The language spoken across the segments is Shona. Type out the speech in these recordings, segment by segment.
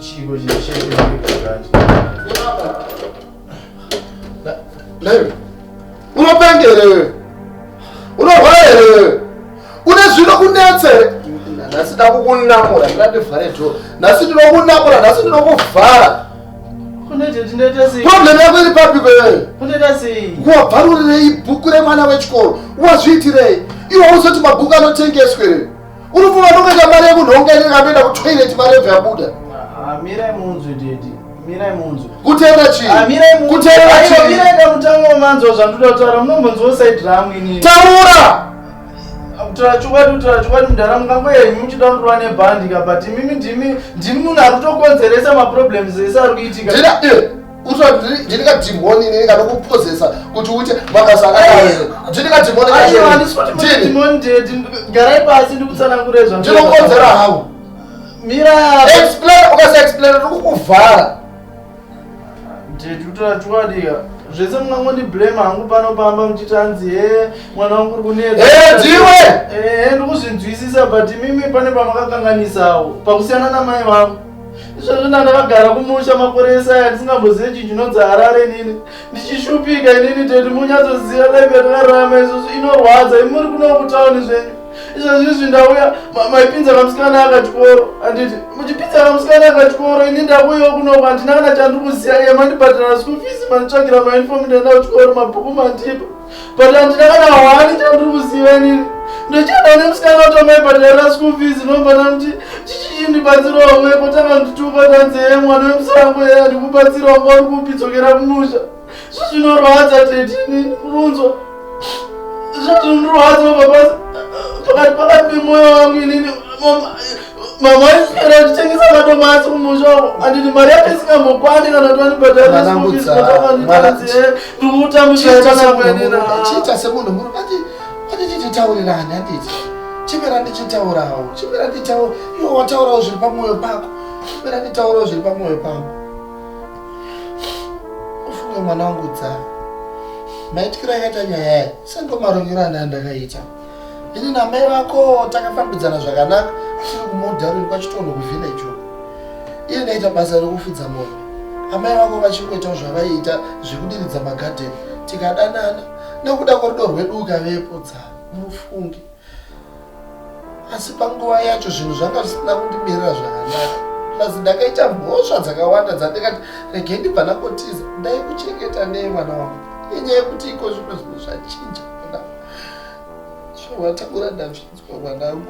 Chico, gente, cheio de dificuldade. Leve. Unopengere wewe. Unorwara here wewe? Une zvino kunetse here? Nhasi ndakukunamura, ndati vhare dhoo. Nhasi ndinokunamura, nhasi ndinokuvhara. problem yako iri papi kwewewe wabvarurirei bhuku remwana wechikoro wazviitirei iwe uzoti mabhuku anotengeswe rei unofunga ndokuita mari yemunhu onga inenge anoenda kutoilet mari yebva yabuda mirai munzwe dedi mirai munzwe kuteera chiikuteera chii mutango manzwa zvandoda kutaura munombonzwa usaidramwini taura kutaura chokwadi kutaura chokwadi mudhara mungango yenyu muchida kurwa nebhandi ka but imimi ndimi ndimi munhu ari kutokonzeresa maproblems ese ari kuitika eh, ndini kadhimoni inini kanokupozesa kuti uite mabasa akadini kadhimonigarai pasi ndikutsanangure zvandinokonzera hau mira explain ukasaexplain ndikukuvhara Ndiri kutora chokwadi ka. Zvese mungangondi blame hangu pano pamba muchiti hanzi he mwana wangu uri kunetsa. Eh, Dhiwe! Eh, ndiri kuzvinzwisisa but imimi pane pamakakanganisawo pakusiyana namai vangu. Izvozvo ndandakagara kumusha makore ese aya ndisingambozive chinhu chinonzi Harare inini. Ndichishupika inini tete munyatsoziva life yatakararama izvozvo inorwadza imi muri kuno kutauni zvenyu. izvozvizvi ndauya maipinza kamusikana akachikoro anditi muchipinza kamusikana akachikoro ini ndakuyawo kunoko handina kana chandikuziya iye mandibhadhara school fees manditsvagira mauniform ndaenda kuchikoro mabhuku mandipa but handina kana hwani chandiri kuziva inini ndochada une musikana utomaibhadharira school fees nomvana kuti chichiindibatsirawo mwepo takandituka tanzeye mwana wemusango yeye andikubatsirawo kwauri kupi dzokera kumusha zvinorwadza tete munzwa zvatindirwadza mabasa pakati pakati pemoyo wangu inini mama aiswera achitengesa matombo asi kumusha anditi mari yake isingambokwani kana twanibhadharandikutamuchiita semunhu muru ati atiti titaurirani atiti chimera ndichitaurawo chimera nditaura iwo wataurawo zviri pamwoyo pako chimera nditaurawo zviri pamwoyo pako ufunge mwana wangu dzaa maitikira akaita nyaya yayo sendomarovero anaya ndakaita ini namai vako takafambidzana zvakanaka achiri kumodharoni kwachitonho kuvhileji uko iye ndaita basa rekufudza mombe amai vako vachingoitawo zvavaiita zvekudiridza magadheni tikadanana nekuda kwerudo rwedu ukavepo dza mufunge asi panguva yacho zvinhu zvanga zvisina kundimirira zvakanaka plus ndakaita mhosva dzakawanda dzandikati rege ndibva ndakotiza ndai kuchengeta nei mwana wangu inyaya yekuti iko zvino zvinhu zvachinja mwana zvovatakura ndazvinzwa mwanangu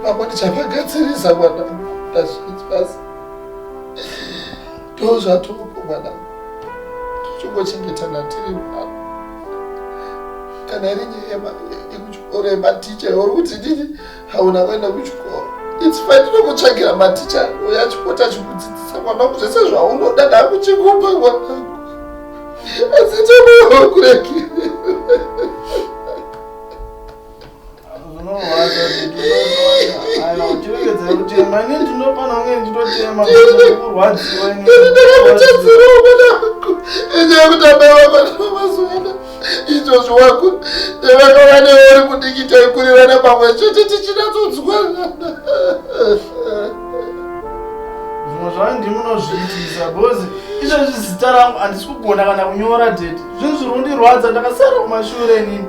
vamwe ndichavagadzirisa mwanangu ndazvinzwa asi Ndozvatoko mwana tichingochengetana tiri mwana kana iri nyaya yekuchikoro yematicha uri kuti ndini hauna kuenda kuchikoro its fine tinokutsvagira maticha uyo achipota achikudzidzisa mwana wangu zvese zvaunoda ndakuchikupa mwana wangu asi tonokureki zvinorwadza aiwa uchiregedza kutema ini ndinofana kunge ndichitotema kurwadziwa ndakakutadzirawo mwana wako ende yekuti abaiwa mwana wamazuvana izvozvo wako ndevakava newe uri kudiki taikurirana pamwe chete tichinatsodzwana zvimwe zvavo ndimi unozviitisa bhozi izvezvi zita rangu handisi kugona kana kunyora deti zvinhu zviri kundirwadza ndakasara kumashure nini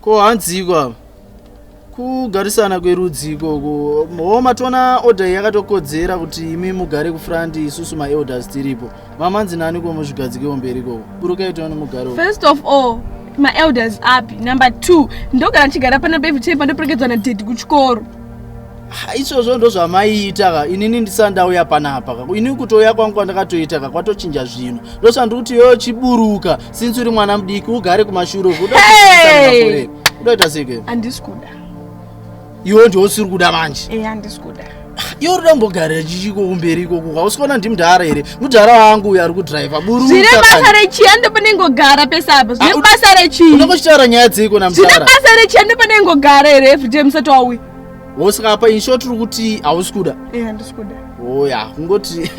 ko hanziko apa kugarisana kwerudzi ikoko hoo matoona order iyi yakatokodzera kuti imi mugare kufront isusu maelders tiripo Mamanzi nani ko muzvigadzikewo mberi ikoko. Buruka itawo nemugaro. First of all, maelders api number two ndogara ndichigara pana bevi chei pandoperekedzwa nadhedhi kuchikoro izvozvo ndo zvamaiita ka inini ndisati ndauya panapa ka ini kutouya kwangu kwandakatoita ka kwatochinja zvino ndosaka ndiri kuti yoyo chiburuka sinsi uri mwana mudiki ugare kumashure uku udoita seke handisi kuda iwe ndiwe usiri kuda manje e handisi kuda iwe uri dambogarira chichiko kumberi ikoko hausi kuona ndi mudhara here mudhara wangu uyo ari kudriva buru zvine basa rechia ndopanengogara pese apo zvine ah, basa rechii unenge uchitaura nyaya dzeiko namudhara zvine basa rechia ndopanengogara here everyday musati wauya wosikapa insho tiri kuti hausi kuda e handisi kuda oya kungoti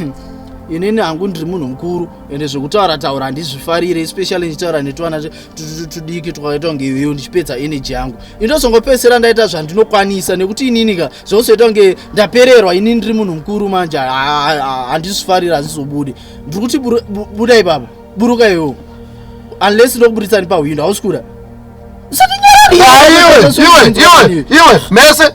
inini hangu ndiri munhu mukuru ende zvekutaura taura handizvifarire especially ndichitaura netwana tudiki twakaita kunge iweyo ndichipedza energy yangu indozongopedzisira ndaita zvandinokwanisa nekuti ininika zvozoita kunge ndapererwa ini ndiri munhu mukuru manje handizvifarira hazvizobude ndiri kuti buda ipapa buruka iwewo unless ndokuburitsa ni pahwindo hausi kuda iwe mese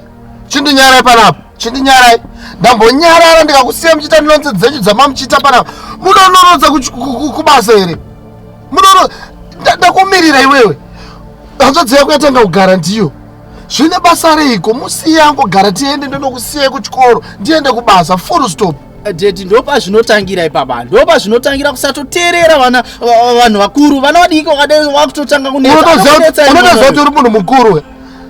chindinyarai panapa chindinyarai ndambonyarara ndikakusiya muchiita nonzi dzenyu dzamamuchiita panapa munonorodza kubasa here munono ndakumirira iwewe hanzvadzi yako yatanga kugara ndiyo zvine basa reiko musiye angogara tiende ndonokusiyai kuchikoro ndiende kubasa full stop deti ndopa zvinotangira ipapa ndopa zvinotangira kusatoteerera vana vanhu vakuru vana vadiki wakadai wakutotanga kunetsa unotoziva kuti uri munhu mukuru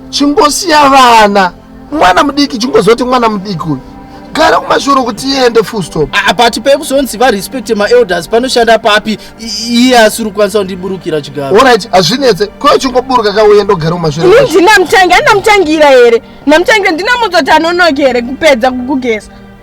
chingosiya vana mwana mudiki chingozoti mwana mudiki uyu gara kumashuro kuti iende full stop ah, but pekuzonzi varespect maelders panoshanda papi iye asiri kukwanisa kundiburukira chigaro orit hazvinetse ko chingoburuka ka uye ndogara kumashuro ini ndinamutangi andinamutangira here namutangira ndinamudzoti anonoki here kupedza kukugeza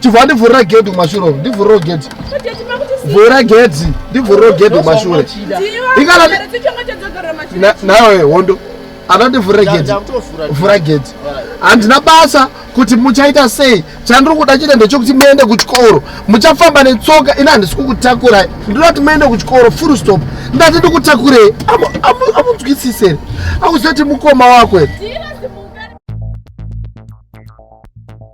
chibva ndivhurira gedhi kumashure uko ndivhuriro gedhi vhura gedhi ndivhuriro gedhi kumashure ikana nawe hondo anondivhurira gedhi vhura gedhi handina basa kuti muchaita sei chandiri kuda chete ndechokuti muende kuchikoro muchafamba netsoka ini handisi kukutakurai ndinoda kuti muende kuchikoro full stop ndati ndikutakurei amunzwisisere akuziva kuti mukoma wako here